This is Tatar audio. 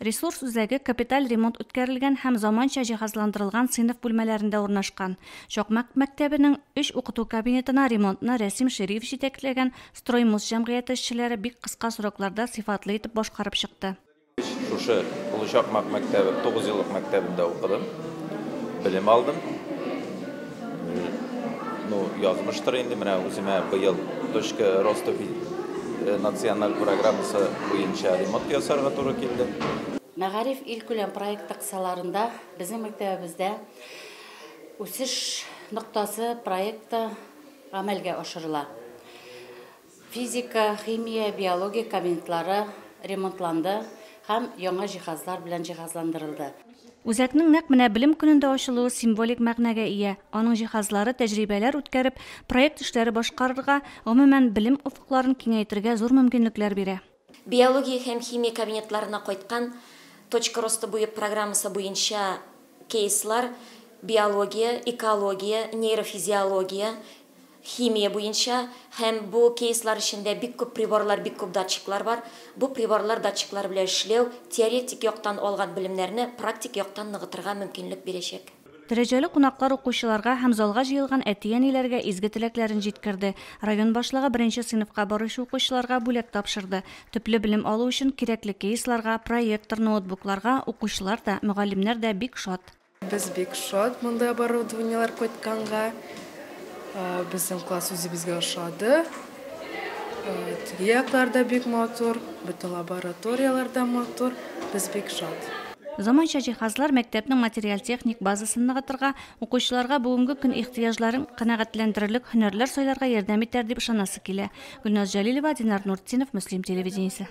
Ресурс үзәге капиталь ремонт үткәрелгән һәм заманча җиһазландырылган сыйныф бүлмәләрендә урнашкан. Чакмак мәктәбенең өч укыту кабинетына ремонтны Рәсим Шириев җитәкләгән Строймус җәмгыяте эшчеләре бик кыска срокларда сыйфатлы итеп башкарып чыкты. Шушы Олы Чакмак мәктәбе тугыз еллык мәктәбендә укыдым, белем алдым. Ну, язмыштыр инде, менә үземә быел точка роста э, националь программасы буенча ремонт ясарга туры килде. Мәгариф илкүләм проекты кысаларында безнең мәктәбебездә үсеш ноктасы проекты гамәлгә ашырыла. Физика, химия, биология кабинетлары ремонтланды һәм яңа җиһазлар белән җиһазландырылды. Үзәкнең нәкъ менә Белем көнендә ачылуы символик мәгънәгә ия, аның җиһазлары тәҗрибәләр үткәреп, проект эшләре башкарырга, гомумән, белем офыкларын киңәйтергә зур мөмкинлекләр бирә. Биология һәм химия кабинетларына кайткан Точка роста буе программасы буенча кейслар биология, экология, нейрофизиология, химия буенча һәм бу кейслар эчендә бик күп приборлар, бик күп датчиклар бар. Бу приборлар, датчиклар белән эшләү теоретик яктан алган белемнәрне практик яктан ныгытырга мөмкинлек бирәчәк. Дәрәҗәле кунаклар укучыларга һәм залга җыелган әти-әниләргә изге теләкләрен җиткерде. Район башлыгы беренче сыйныфка баручы укучыларга бүләк тапшырды. Төпле белем алу өчен кирәкле кейсларга, проектор, ноутбукларга укучылар да, мөгаллимнәр дә бик шат. Без бик шат мондый оборудованиеләр кайтканга. Безнең класс үзебезгә ошады. Теге яклар да бик матур, бөтен лабораторияләр дә матур, без бик шат. Заманча җиһазлар мәктәпнең материаль-техник базасын ныгытырга, укучыларга бүгенге көн ихтыяҗларын канәгатьләндерерлек һөнәрләр сайларга ярдәм итәр дип ышанасы килә. Гөлназ Җәлилова, Динар Нуртдинов, Мөслим телевидениесе.